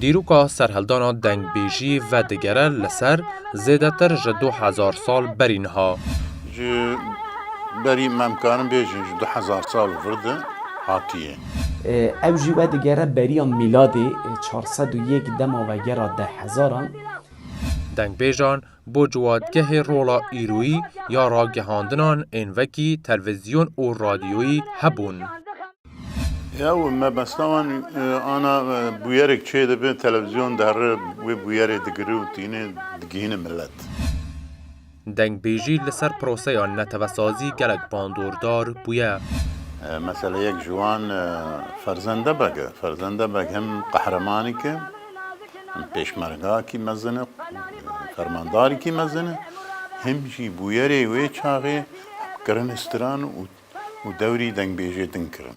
Dîroka serhildana dengbêjî vedigere li ser zêdetir ji du hezar sal berî niha. Ji berî me em karin bêjin ji du hezar sal vir de hatiye. Ew jî vedigere beriya mîladê çar sed û yek dema vegera deh hezaran. Dengbêjan bo ciwatgehê rola îroyî ya ragihandinan ên vekî telvizyon û radyoyî hebûn. Yew mebesta wan ana bûyerek çê dibe televizyon derre wê bûyerê digire û tîne digihîne milet. Dengbêjî li ser proseya netewesazî gelek bandordar bûye. Mesela yek ji wan Ferzende Beg e. Ferzende Beg hem qehremanîk e, hem pêşmergakî mezin e, fermandarîkî mezin e, hem jî bûyerê wê çaxê hevkirin, stiran û dewrî dengbêjê din kirin.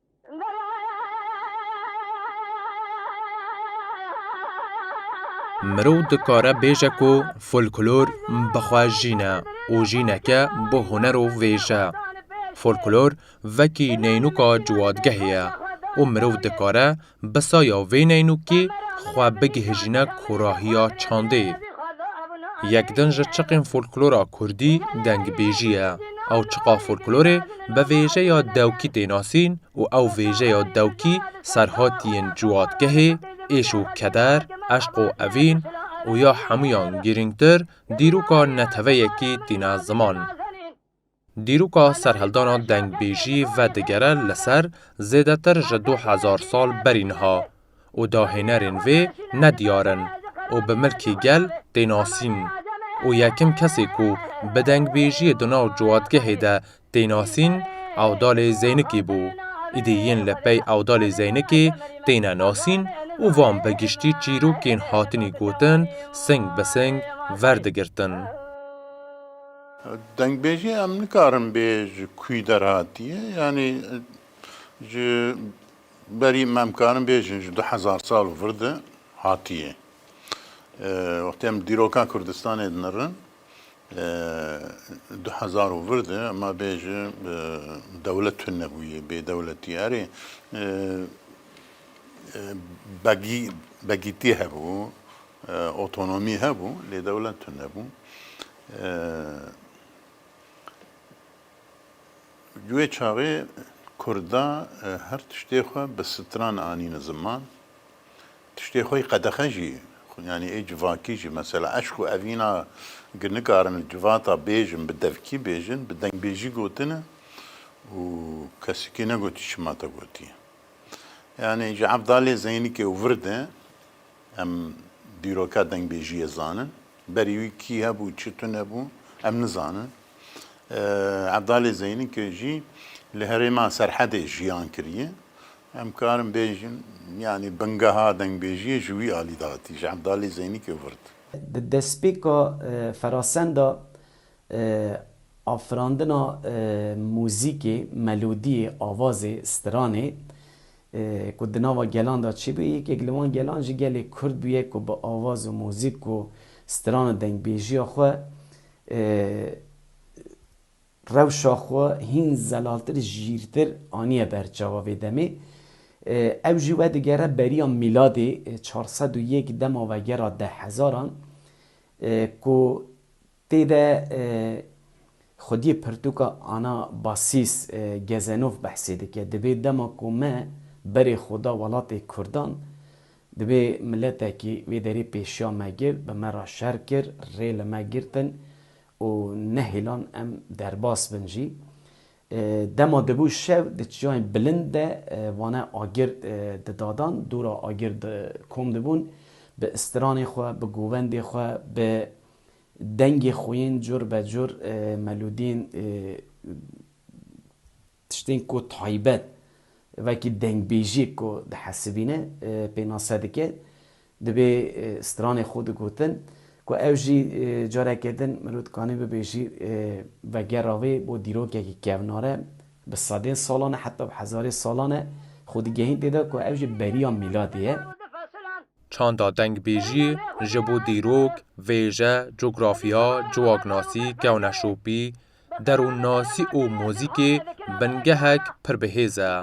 Mirov dikare bêje ku folklor bi xwe jîn e û jîneke bi huner û vêj e. Folklor vekî neynuka ciwadgehê ye û mirov dikare Bi saya vê neynûkê xwe bigihîjîne korahiya çandê. Yek din ji çiqên folklora kurdî dengbêjî ye. Ew çiqa folklorê bi vêjeya dewkî tê nasîn û ew vêjeya dewkî serhatiyên ciwatgehê, êş û keder, eşq û evîn û ya hemûyan girîngtir dîroka neteweyekî tîne ziman. Dîroka serhildana dengbêjî vedigere li ser zêdetir ji du hezar sal berî niha û dahênerên vê ne diyar in û bi milkê gel tê nasîn û yekim kesê ku bi dengbêjiyê di nav ciwatgehê de tê nasîn Ewdalê Zeynikî bû. Îdî yên li pey Ewdalê Zeynikê têne nasîn û van bi giştî çîrokên hatinî gotin sing bi sing verdigirtin. Dengbêjê em nikarin bê ji kûî derhatiye yanî ji berî me em karin bêjin ji du hezar sal û vir de hatiye. Wextê em dîroka Kurdistanê dinirin du hezar û vir de ema bêjin dewlet tune bûye bê dewletî erê begî begîtî hebû otonomî hebû lê dewlet tune bû. Di wê çaxê Kurd de her tiştê xwe bi stran anîne ziman, tiştê xwe yî qedexe jî yanî ê civakî jî mesela eşq û evîna gi nikarin li civata bêjin bi devkî bêjin bi dengbêjî gotine û kesekî negotî çima te gotiye. Yanî ji Evdalê Zeynikê û vir de. Em dîroka dengbêjiyê zanin. Berî wî kî hebû, çi tune bû em nizanin. Evdalê Zeynî ke jî li herêma Serhedê jiyan kiriye. Em karin bêjin yanî bingeha dengbêjiyê ji wî alî de hatî, ji Evdalê Zeynî ke virt. Di despêka ferasenda Afirandina muzîkê, melodiyê, avazê, stranê ku di nava gelan de çêbûye, yekek li wan gelan jî gelê kurd bûye ku bi avaz û muzîk û stran û dengbêjiya xwe rewşa xwe hîn zelaltir, jîrtir aniye ber çawa vê demê. Ew jî wedigere beriya mîladê çar sed û yek dema vegera dehhezaran ku Tê de xwediyê pirtûka Ana Basîs Gezenov behsê dike, Dibê dema ku me berê xwe da welatê Kurdan, dibê miletekî wê derê pêşiya me girt, bi me re şer kir, rê li me girtin û nehêlan em derbas bin jî. Dema dibû şev di çiyayên bilind de vane agir didadan, dûra agir di kom dibûn, bi istiranê xwe, bi govendê xwe, bi Dengê xwîn, cur be cur melodiyên tiştên ku taybet vekî dengbêjiyek ku dihesibîne pênase dike. Divê stranê xwe digotin ku ew jî careke din mirov dikanî bibêjî vegera wê bo dîrokekî kevnar e, bi sedên salan e heta bi hezarê salan e xwe digehîn tê de ku ew jî beriya mîladê ye. Çanda dengbêjiyê ji bo dîrok, vêje, cografiya, ciwaknasî, kewneşopî, derûnnasî û muzîkê bingehek pir bi hêz e.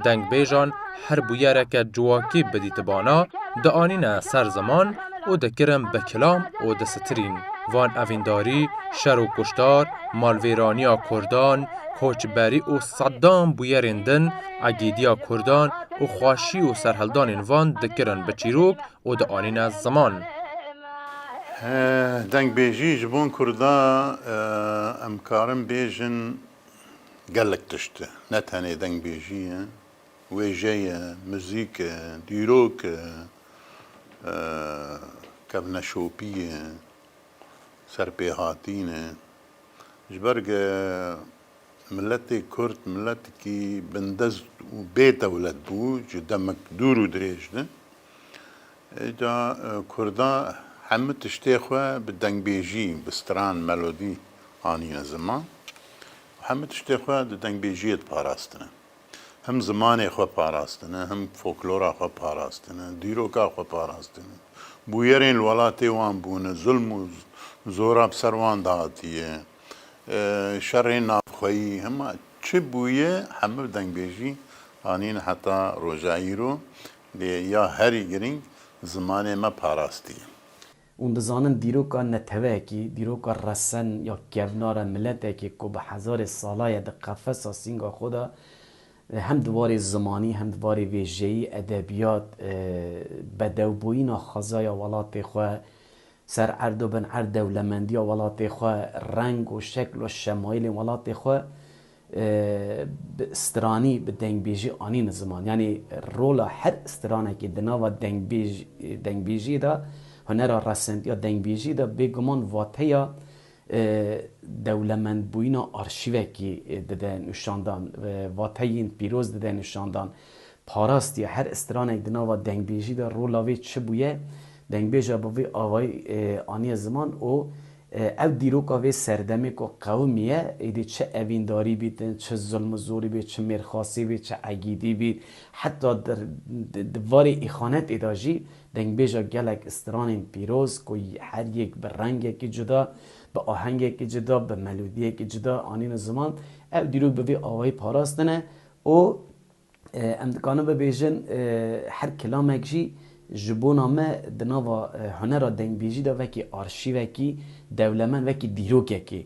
Dengbêjan her bûyereke ciwakî bidîtibana, dianîne ser ziman û dikirin bi kilam û disitirîn. Van evîndarî, şer û kuştar, malvêraniya kurdan, koçberî û sedan bûyerên din, Agêdiya Kurdan û xwaşî û serhildanên van dikirin bi çîrok û dianîne ziman. Dengbêjî ji bo Kurda em karin bêjin gelek tişt e. Ne tenê dengbêjî ye, wêje ye, muzîk e, dîrok e, kevneşopî ye, serpêhatîn e. Ji ber Miletê Kurd miletekî bindest û bê dewlet bû ji demek dûr û dirêj de. Îca Kurda hemû tiştê xwe bi dengbêjî, bi stran, melodî anîne ziman û hemû tiştê xwe di dengbêjiyê diparastine. Him zimanê xwe parastine, him foklora xwe parastine, dîroka xwe parastine. Bûyerên li welatê wan bûne, zulm û zora bi ser wan de hatiye. Şerê navxweyî hema çi bûye hemû dengbêjî anîn heta roja îro lê ya herî girîng zimanê me parastiye. Hûn dizanin dîroka neteweyekî, dîroka resen ya kevnara miletekî ku bi hezarê sala ye di qefesa sînga xwe de hem di warê zimanî hem di warê vêjeyî, edebiyat, bedewbûyîna xwezaya welatê xwe Ser erdo bin erd dewlemendiya welatê xwe, reng û şekl û şemayîlên welatê xwe bi stranî, bi dengbêjî anîne ziman. Yanî rola her stranekî di nava dengbêjî dengbêjî de, hunera resendiya dengbêjî de bêguman vateya Dewlemendbûyîna arşîvekî dide nûşandan, vateyîn pîroz dide nûşandan, parastiye her istiranek di nava dengbêjî de rola wê çi bûye, dengbêja bi vî avayî aniye ziman û ew dîroka vê serdemê ku qewimî ye, êdî çi evîndarî bît, çi zilm û zorî bît, çi mêrxasî bît, çi egîdî bît, heta di varê îxanetê de jî Dengbêja gelek stranên pîroz ku her yek bi rengekî cuda, bi ahengekî cuda, bi melodiyekî cuda anîne ziman, ev dîrok bi vê awayî parastine û em dikarin bibêjin her kilamek jî ji bona me di nava hunera dengbêjî de wekî arşîvekî dewlemend, wekî dîrokekê.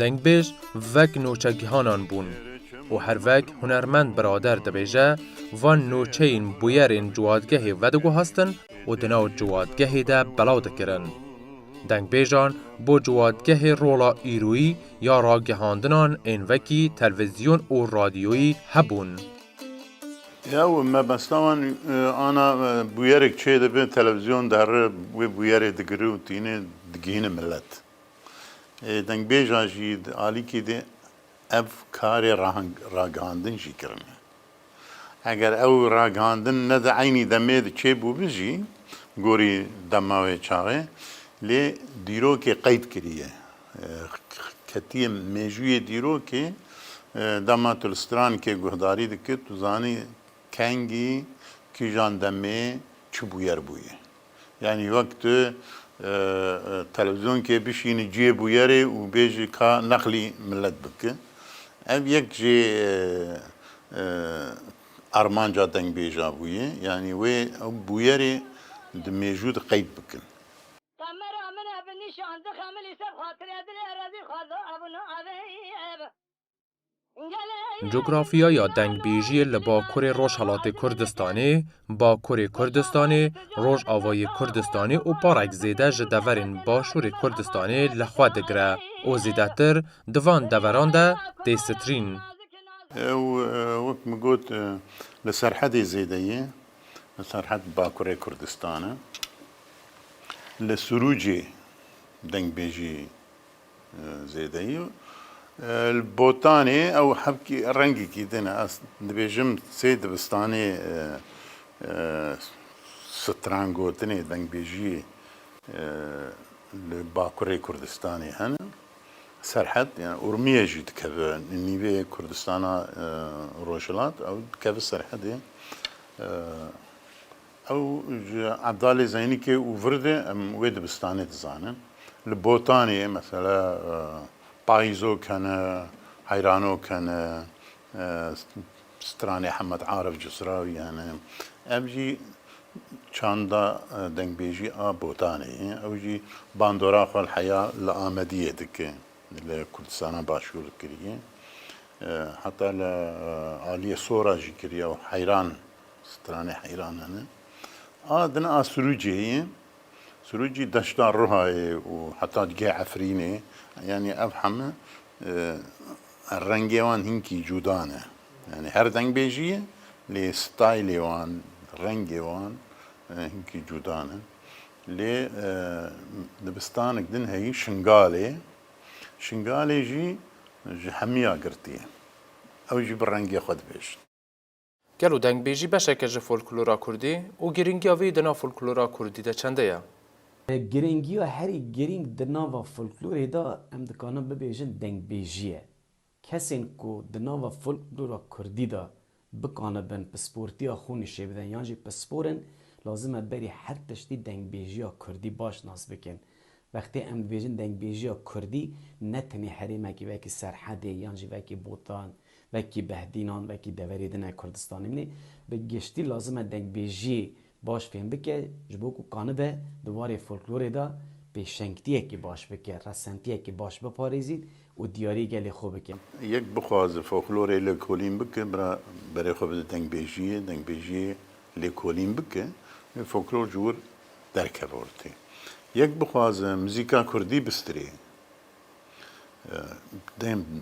Dengbêj vek noçegihanan bûn û her vek hunermend birader dibêje van noçeyên bûyerên ciwadgehê vediguhastin û di nav ciwadgehê de belav dikirin. Dengbêjan bo ciwadgehê rola îroyî ya ragihandinan ên vekî telvizyon û radyoyî hebûn. Ya û mebesta wan ana bûyerek çêdibe televizyon derre wê bûyerê digire û tîne digihîne milet. Dengbêja jî di alîkê de ev karê ragihandin jî kirine. Eger ew ragihandin ne di eynî demê de çêbûbi jî gorî dema wê çaxê lê dîrokê qeyd kiriye. Ketiye mêjûyê dîrokê dema tu li stranikê guhdarî dikir tu zanî kengî kîjan demê çi bûyer bûye. Yanî wek tu televîzyonkê bişînî cihê bûyerê û bêjî ka neqlî milet bike. Ev yek jî armanca dengbêja bûye. Yanî wê ew bûyerê di mêjû de qeyd bikin. Qemera min ev nîşan dixemilî ser xatirê dilê rezîl xweza ev û navê ev. Cografyaya dengbêjiyê li Bakurê Rojhilatê Kurdistanê, Bakurê Kurdistanê, Rojavayê Kurdistanê û parek zêde ji deverên Başûrê Kurdistanê li xwe digire û zêdetir di van deveran de tê sitirîn. Ew wek min got li serhedê zêde ye, serhed Bakurê Kurdistanê. Li Sûrûcê dengbêjiyê Zêdeyî li botanê ew hevkî rengekî din e. Ez dibêjim sê dibistanê stran gotinê, dengbêjiyê li bakurê Kurdistanê hene. Serhed yani Urmiye jî dikeve nîvê Kurdistana Rojhilat ew dikeve serhedê. Ew ji Ebdalê Zeynîkê û Virdê em wê dibistanê dizanin. Li Botanê mesela payîzok hene, heyranok hene, stranê Hemed Arif Cisrawî hene. Ev jî çanda dengbêjî a Botanê ye. Ew jî bandora xwe li heya li Amediyê dike, li Kurdistana Başûr kiriye. Heta li aliyê Sora jî kiriye û heyran Stranê heyranan e. A dina a Sirûcê ye. Sirûcî deşta Rihayê û heta digeh Efrînê. Yanî ev heme rengê wan hinkî cuda ne. Yanî her dengbêjî ye lê staylê wan, rengê wan hinkî cuda ne. Lê dibistanek din heyî Şingalê. Şingalê jî ji hemiya girtî ye. Ew jî bi rengê xwe dibêjin. Gel û dengbêjî beşek e ji folklora kurdî û girîngiya vê yî di nav folklora kurdî de çende ye? Girîngiya herî girîng di nava folklorê de em dikarin bibêjin dengbêjî ye. Kesên ku di nava folklora kurdî de bikanibin pisportiya xwe nişê bidin yan jî pispor in, lazim e berî her tiştî dengbêjiya kurdî baş nas bikin. Wextê em dibêjin dengbêjiya kurdî ne tenê herêmekî wekî Serhedê yan jî wekî Botan Wekî behdînan, wekî deverê din e Kurdistanê min ê bi giştî lazim e dengbêjiyê baş fêm bike ji bo ku kanibe di warê folklorê de pêşengtiyekî baş bike, resentiyekî baş biparêzîn û diyarî gelê xwe bike. Yek bixwaze folklorê lêkolîn bike bira berê xwe bide dengbêjiyê, dengbêjiyê lêkolîn bike wê folklor ji wir derkeve ortê. Yek bixwaze muzîka kurdî bistirê.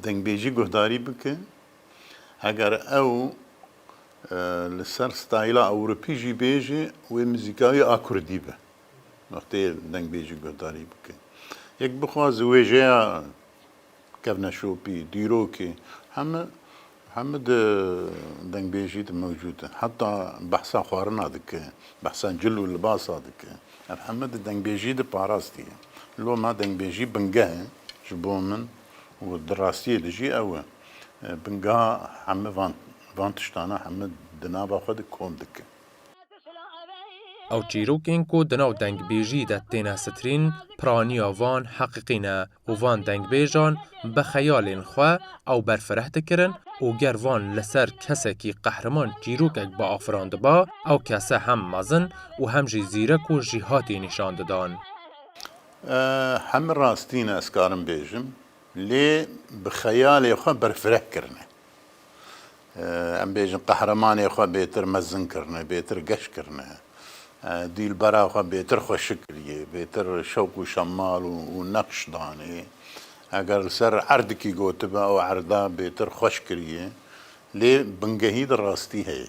Dengbêjî guhdarî bike. Heger ew li ser stayla ewropî jî bêje wê mizîkayê a kurdî be. Wextê dengbêjî guhdarî bike. Yek bixwaze wêjeya kevneşopî, dîrokê heme. Hemû di dengbêjî de mewcûd in. Heta behsa xwarina dike, behsa cil û libasa dike. Ev hemû di dengbêjî de parastiye. Loma dengbêjî bingeh e ji bo min û di rastiyê de jî ew e. Bingeha hemû van van tiştan e hemû di nava xwe de kom dike. Ew çîrokên ku di nav dengbêjî de têne sitirîn piraniya van heqîqî ne. û van dengbêjan bi xeyalên xwe ew berfireh dikirin û ger van li ser kesekî qehreman çîrokek biafirandiba, ew kese hem mezin û hem jî zîrek û jîhatî nîşan didan. Hemû rastîn ez karim bêjim lê bi xeyalê xwe berfireh kirine. Em bêjin qehremanê xwe bêtir mezin kirine, bêtir geş kirine, dîlbera xwe bêtir xweşik kiriye, bêtir şewk û şemal û neqş danê. Eger li ser erdikî gotibe ew erda bêtir xweş kiriye. Lê bingehî di rastî heye.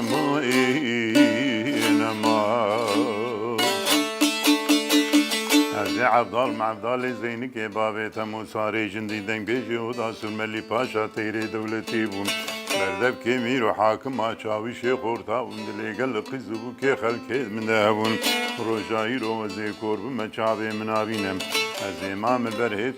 Evdal Mevdalê Zeynikê bavê Temûsarê Jindî Dengbêjê Oda Sûrmelî Paşa Têrê Dewletî bû. Berdevkê mîr û hakima çavişê xorta û dilêgel li qiz û bûkê xelkê di min de hebûn. Roja îro ez ê kor bime çavê min avîne. Ez ê mame ber hêt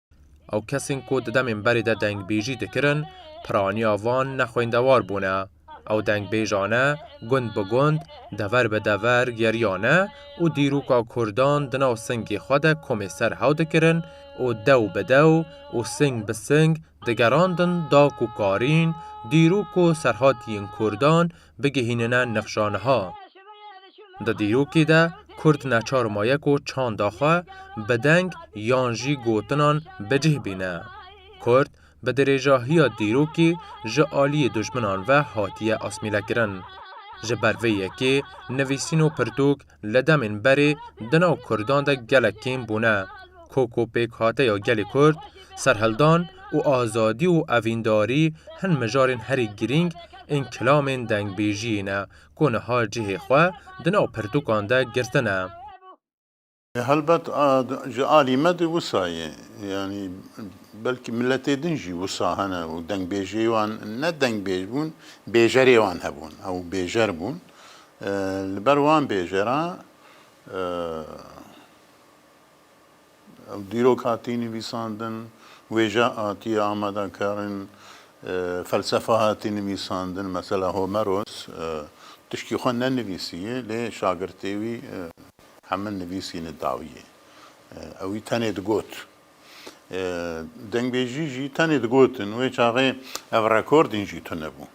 Ew kesên ku di demên berê de dengbêjî dikirin, piraniya van ne xwendewar bûne. Ew dengbêjane gund bi gund, dever bi dever geriyane û dîroka Kurdan di nav singê xwe de komê ser hew dikirin û dew bi dew û sing bi sing digerandin da ku karîn dîrok û serhatiyên Kurdan bigihînine nexşa niha. Di dîrokê de kurd neçar maye ku çanda xwe bi deng yan jî gotinan bi cih bîne. Kurd bi dirêjahiya dîrokê ji aliyê dijminan ve hatiye asmîlekirin. Ji ber vê yekê nivîsîn û pirtûk li demên berê di nav Kurdan de gelek kêm bûne. Koko pêkhateya gelê Kurd, serhildan û azadî û evîndarî hin mijarên herî girîng ên kilamên dengbêjiyê ne ku niha cihê xwe di nav pirtûkan de girtine. Helbet ji alî me de wisa ye, yanî belkî miletê din jî wisa hene û dengbêjiyê wan ne dengbêj bûn, bêjerê wan hebûn, ew bêjer bûn, Li ber wan bêjeran ew dîrok hatiye nivîsandin, wêje hatiye amadekirin, felsefa hatiye nivîsandin, mesela Homeros tiştî xwe nenivîsiye lê şagirtê wî hemin nivîsîne dawiyê. Ewî tenê digot. Dengbêjî jî tenê digotin wê çaxê ev rekordên jî tune bûn.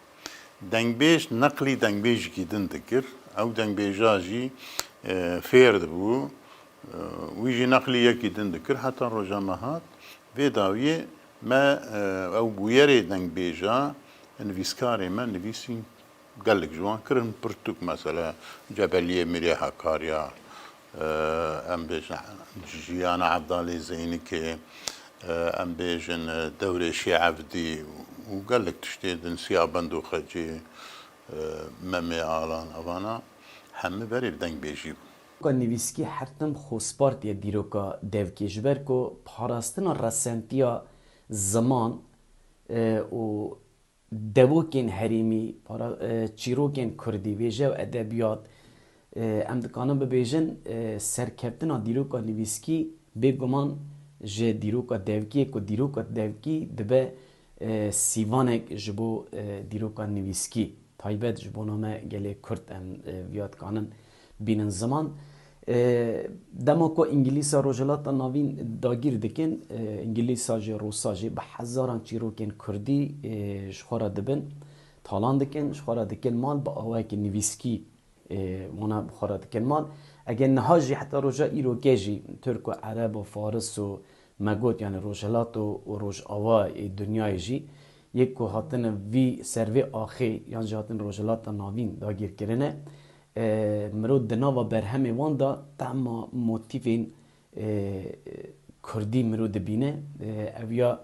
Dengbêj neqlî dengbêjikî din dikir, ew dengbêja jî fêr dibû, wî jî neqlî yekî din dikir heta roja me hat. Vê dawiyê me ew bûyerê dengbêja nivîskarê me nivîsîn. Gelek ji wan kirin pirtûk mesela Cebeliyê Mîrê Hakarya, em bêjin Jiyana Evdalê Zeynikê, em bêjin Dewrê Şêevdî û gelek tiştê din Siya Bendû Xecê, Memê Alan evana hemû berê bi dengbêjî bûn. Dîroka nivîskî her tim xozpartiya dîroka devkê ji ber ku parastina resentiya ziman û Devokên herîmî, para çîrokên kurdî, wêje û edebiyat, em dikanin bibêjin serkeftina dîroka nivîskî bê guman ji dîroka devkî ye ku dîroka devkî dibe sîvanek ji bo dîroka nivîskî, taybet ji bo name gelê kurd em viya dikanin. bînin ziman. Dema ku Îngilîsa Rojhilata Navîn dagîr dikin, Îngilîsa jî Rûsa jî bi hezaran çîrokên Kurdî ji xwe re dibin, talan dikin, ji xwe re dikin mal bi awayekî nivîskî wana bi xwe re dikin mal. Eger niha jî heta roja îrokê jî Tirk û Ereb û Faris û me got yanî Rojhilat û Rojava yê dinyayê jî yek ku hatine vî ser vê axê yan jî hatine Rojhilata Navîn dagîrkirine Mirov di nava berhemê wan de tahma motîfên kurdî mirov dibîne. Ev ya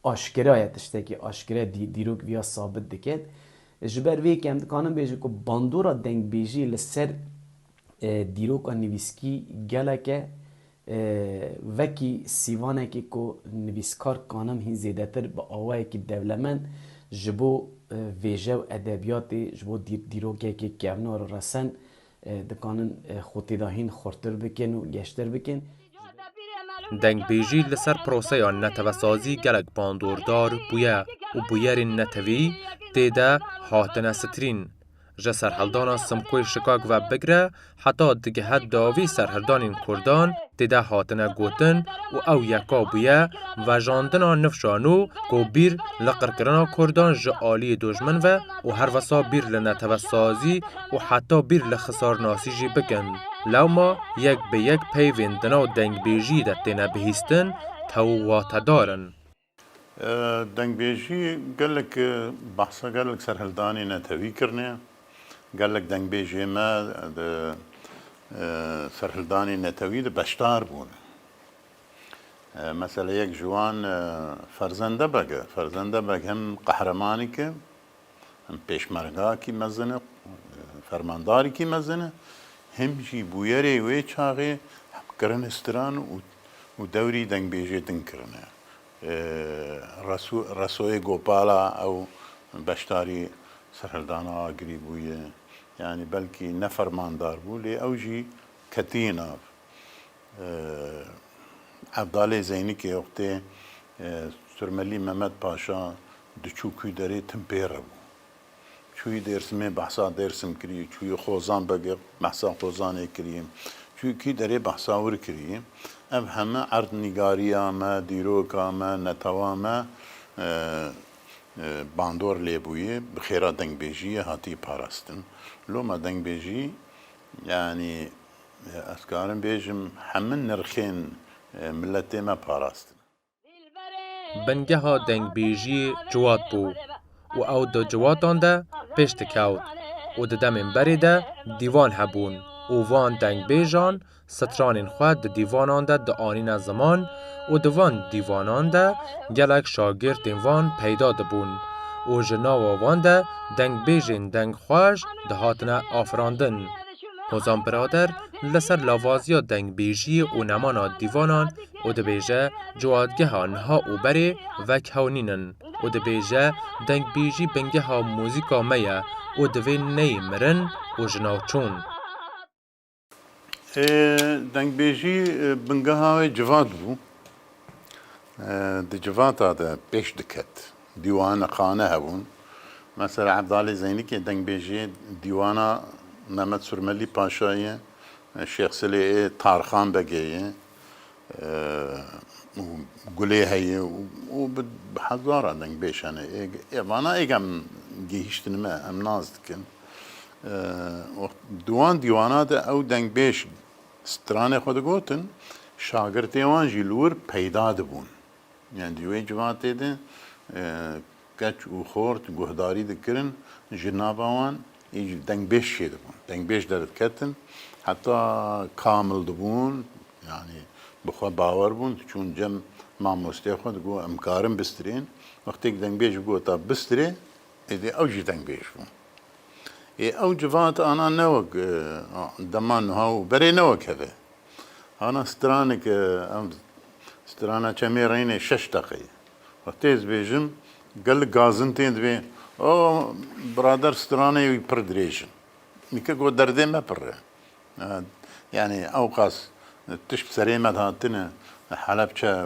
aşkera ye, tiştekî aşkera ye, dîrok viya sabit dike. Ji ber vê yekê em dikarin bêjin ku bandora dengbêjiyê li ser dîroka nivîskî gelek e Vekî sîvanekê ku nivîskar Kanem hîn zêdetir bi awayekî dewlemend ji bo vêje û edebiyatê, ji bo dîrokekê kevnar û resen dikanin xwe têda hîn xurtir bikin û geştir bikin. Dengbêjî li ser proseya netewesazî gelek bandordar bûye û bûyerên netewî tê de hatine sitirîn. Ji serhildana Simkoyê Şikak ve bigre heta digihe dawî serhildanên Kurdan tê de hatine gotin û ew yeka bûye vejandina nifşa nû ku bîr li qirkirina Kurdan ji aliyê dojmin ve û her wisa bîr li netewesazî û heta bîr li xisarnasî jî bikin. Lewma yek bi yek peyvên di nav dengbêjiyê de têne bihîstin tew û watedar in. Dengbêjî gelek behsa gelek serhildanê netewî kirine. Gelek dengbêjê me di serhildanê netewî de beşdar bûn. Mesela yek ji wan Ferzende Beg e. Ferzende Beg hin qehremanêk e. Hem pêşmergakî mezin e, fermandarîkî mezin e, hem jî bûyerê wê çaxê hem kirine stran û û dewrî dengbêjê din kirine. Reso Resoyê Gopala ew beşdarî serhildana Agirî bûye. Yanî belkî ne fermandar bû lê ew jî ketiye nav. Evdalê Zeynikê Oxtê Surmelî Memed Paşa Diçû kû derê tim pê re bû. Çûyî Dêrsimê behsa Dêrsim kirî, çûyî Xozan bege behsa Xozanê kirî, çûyî kî derê behsa wir kirî. Ev heme erd nîgarîya me, dîroka me, netewa me bandor lê bûyê, bi xêra dengbêjîyê hatî parastin. Loma dengbêjî yanî ez karim bêjim hemin nirxên miletê me parastin. Bingeha dengbêjiyê ciwat bû û ew di ciwatan de pêş dikewt û di demên berê de dîvan hebûn û van dengbêjan stranên xwe di dîvanan de dianîne ziman û di van dîvanan de gelek şagirtên van peyda dibûn û ji nava wan de dengbêjên dengxweş dihatine afirandin. Hozan Birader li ser lavaziya dengbêjiyê û nemana dîvanan û dibêje Ciwadgeha niha û berê vekhewnîn in û dibêje Dengbêjî bingeha muzîka me ye û divê neyê mirin û ji nav çûn. Ê dengbêjî bingeha wê civat bû. Di civata de pêş diket. Dîwana xane hebûn. Mesela Evdalê Zeynikê dengbêjê dîwana Memed Surmelî Paşayê, Şêx Silê ê, Tarxan Begê yê. û gulê heye û bi hezara deng bêş hene. Ê vana êk em gihîştin me, em nas dikin. Di wan dîwana de ew deng bêş stranê xwe digotin, şagirtê wan jî li wir peyda dibûn. Yan di wê civatê de Keç û xort guhdarî dikirin ji nava wan îjî dengbêj çêdibûn. Dengbêj derdiketin heta kamil dibûn yanî bi xwe bawer bûn diçûn cem mamosteyê xwe digot em karin bistirên. Wextê ku dengbêj bigot ta bistirê êdî ew jî dengbêj bû. Ê ew civat ana ne wek dema nuha û berê ne wek heve. Ana straneke ev strana çemê reynê şeş deqe ye. Xwe tê dibêjim, gelek gazin tê dibê. O birader stranê wî pir dirêj in. Nîke got derdê me pir e. Yanî ewqas tişt serê me dihatine, Helepçe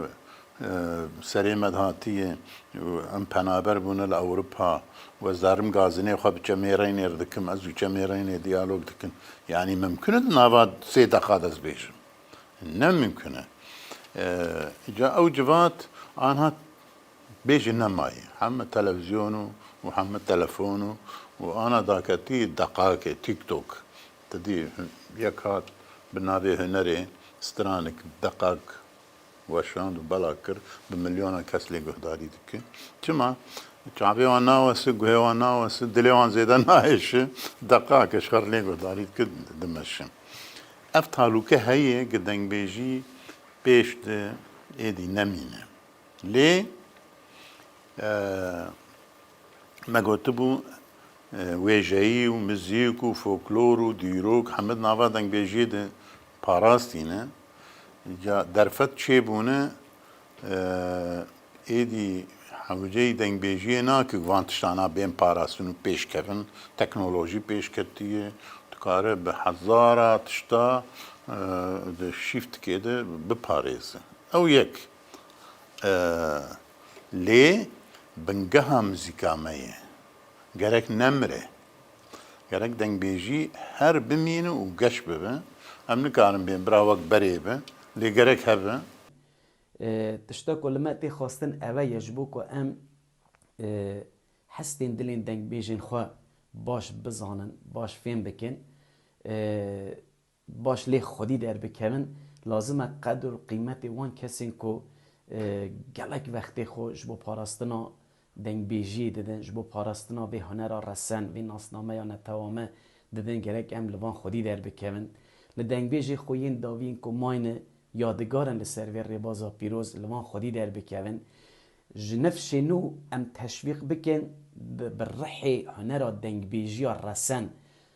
serê me dihatiye û em penaber bûne li Ewropa û ez darim gazinê xwe bi çemêreynê re dikim, ez û çemêreynê diyalog dikin. Yanî mimkun e di nava sê deqa de ez bêjim. Ne mumkin e. Ca ew civat anha bêjin nemayê. Heme televizyon û û heme telefon û û ana daketî deqakê TikTok. Ti dî yek hat bi navê Hunerê stranik deqak weşand û belag kir bi milyonan kes lê guhdarî dike. Çima? Çavê wan nawese, guhê wan nawese, dilê wan zêde naêşe. Deqak eşxer lê guhdarî dike dimeşe. Ev talûke heye ku dengbêjî pêş di êdî nemîne. Lê me gotibû wêjeyî û mizîk û foklor û dîrok heme di nava dengbêjiyê de parastîne. Ca derfet çêbûne. Êdî hewceyî dengbêjiyê nake ku van tiştana bên parastin û pêşkevin. Teknolojî pêş ketiye, dikare bi hezara tişta di şîftikê de biparêze. Ew yek e. Lê bingeha muzîka me ye. Gerek nemire. Gerek dengbêjî her bimîne û geş bibe. Em nikarin bên bira wek berê be, lê gerek hebe. Tişta ku li me tê xwestin eve ye ji bo ku em hestên dilên dengbêjên xwe baş bizanin, baş fêm bikin, baş lê xwedî derbikevin, lazim e qedir û qîmetê wan kesên ku gelek vextê xwe ji bo parastina Dengbêjiyê didin ji bo parastina vê hunera resen, vê nasnameya netewame didin gerek em li van xwedî derbikevin. Li dengbêjê xwe yên daviyên ku mayne yadigar in li ser vê rêbaza pîroz li van xwedî derbikevin. Ji nifşê nû em teşwîq bikin bi rihê hunera dengbêjiya resen